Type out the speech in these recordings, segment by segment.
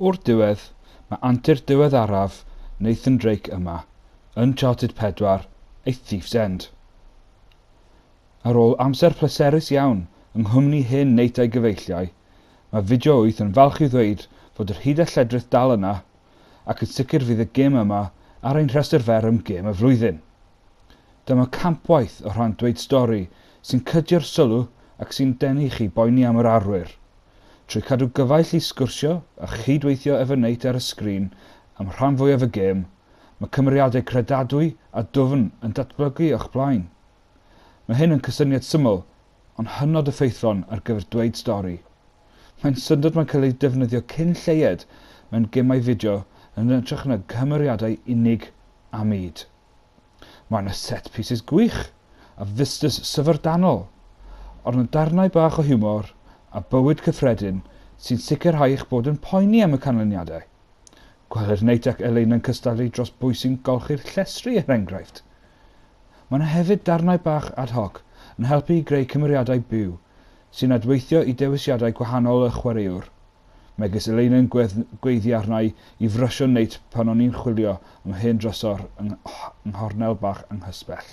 O'r diwedd, mae antur diweddaraf Nathan Drake yma, Uncharted 4, A Thief's End. Ar ôl amser pleserus iawn yng nghwmni hen Nate a'i gyfeilliau, mae Fideo Wyth yn falch i ddweud fod yr hud a lledrith dal yna, ac yn sicr fydd y gêm yma ar ein rhestr fer am Gêm y Flwyddyn. Dyma campwaith o rhan Dweud Stori sy'n cydio'r sylw ac sy'n denu chi boeni am yr arwyr, trwy cadw gyfaill i sgwrsio a chyd-weithio efo Nate ar y sgrin am rhan fwyaf y gêm, mae cymeriadau credadwy a dwfn yn datblygu o'ch blaen. Mae hyn yn cysyniad syml, Ond hynod effeithlon ar gyfer dweud stori. Mae'n syndod mae'n cael ei defnyddio cyn lleied mewn gemau fideo yn hytrach na chymeriadau unig a mud. Mae yna set pieces gwych a vistas syfrdanol, ond mae darnau bach o hiwmor a bywyd cyffredin sy'n sicrhau eich bod yn poeni am y canlyniadau. Gweler Nate ac Elaine yn cystadlu dros bwy sy'n golchi'r llestri er enghraifft. Mae yna hefyd darnau bach ad hoc yn helpu i greu cymeriadau byw sy'n adweithio i dewisiadau gwahanol y chwaraewr, megis Elaina'n gweiddi arna'i i frysio Nate pan o'n i'n chwilio am hen drysor yng nghornel bach anghysbell.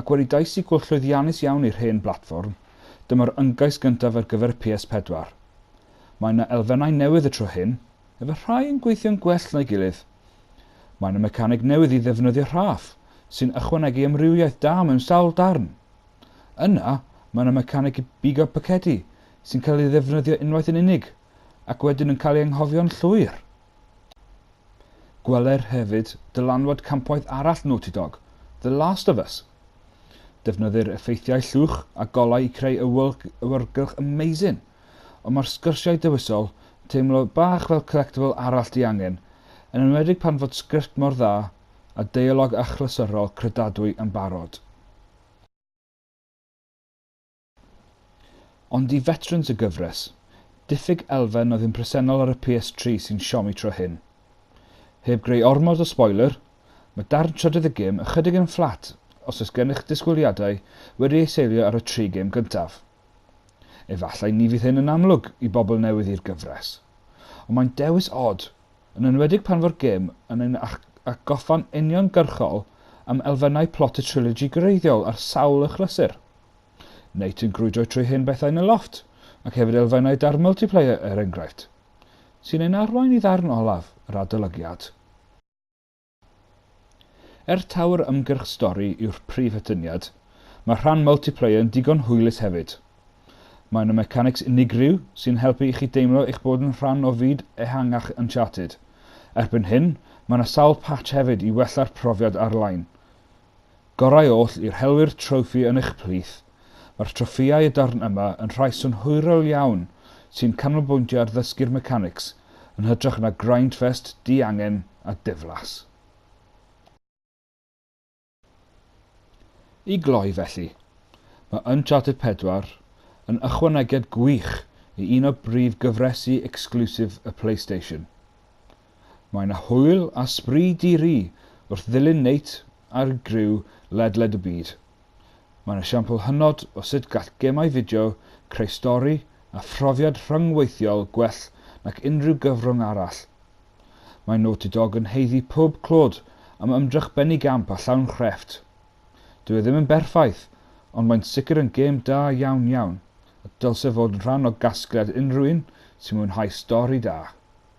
Ac wedi daesygu llwyddiannus iawn i'r hen blatfform, dyma'r ymgais gyntaf ar gyfer y PS4. Mae yna elfennau newydd y tro hyn, efallai yn gweithio'n gwell na'i gilydd. Mae yna mecaneg newydd i ddefnyddio rhaff, sy'n ychwanegu amrywiaeth da mewn sawl darn. Yna, mae yna mecaneg i bigo pacedi, sy'n cael ei ddefnyddio unwaith yn unig, ac wedyn yn cael ei anghofio'n llwyr. Gweler hefyd dylanwad campwaith arall Naughty Dog, The Last of Us. Defnyddir effeithiau llwch a golau i creu awyrgylch amazing, ond mae'r sgyrsiau dewisol yn teimlo bach fel collectible arall diangen, yn enwedig pan fod sgript mor dda a deialog achlysurol credadwy yn barod. Ond i fetrans y gyfres, diffyg elfen oedd yn presennol ar y PS3 sy'n siomi tro hyn. Heb greu ormod o spoiler, mae darn trydydd y gêm ychydig yn fflat os oes gennych ddisgwyliadau wedi eu seilio ar y tri gêm gyntaf. Efallai ni fydd hyn yn amlwg i bobl newydd i'r gyfres, ond mae'n dewis od, yn enwedig pan fo'r gêm yn ein atgoffa'n uniongyrchol am elfennau plot y trilogy greiddiol ar sawl achlysur. Neu ti'n grwydro trwy hen bethau yn y lofft, ac hefyd elfennau da'r multiplayer er enghraifft, sy'n ein arwain i ddarn olaf yr adolygiad. Er taw'r ymgyrch stori yw'r prif atyniad, mae'r rhan multiplayer yn digon hwylus hefyd. Mae yna mecanics unigryw sy'n helpu i chi deimlo eich bod yn rhan o fyd ehangach Uncharted. Erbyn hyn, mae yna sawl patch hefyd i wella'r profiad ar-lein. Gorau oll i'r helwyr trofi yn eich plith, mae'r troffïau y darn yma yn rhai synhwyrol iawn sy'n canolbwyntio ar ddysgu'r mechanics yn hytrach na grindfest diangen a diflas. I gloi felly, mae Uncharted 4 yn ychwanegiad gwych i un o brif gyfresi exclusive y Playstation. Mae 'na hwyl a sbri di-ri wrth ddilyn Nate a'r griw ledled y byd. Mae 'na siampl hynod o sut gall gemau fideo creu stori a phrofiad rhyngweithiol gwell nac unrhyw gyfrwng arall. Mae Naughty Dog yn haeddu pob clod am ymdrech benigamp a llawn chrefft. Dyw e ddim yn berffaith, ond mae'n sicr yn gêm da iawn iawn, a dylse fod yn rhan o gasgliad unrhyw un sy'n mwynhau stori da.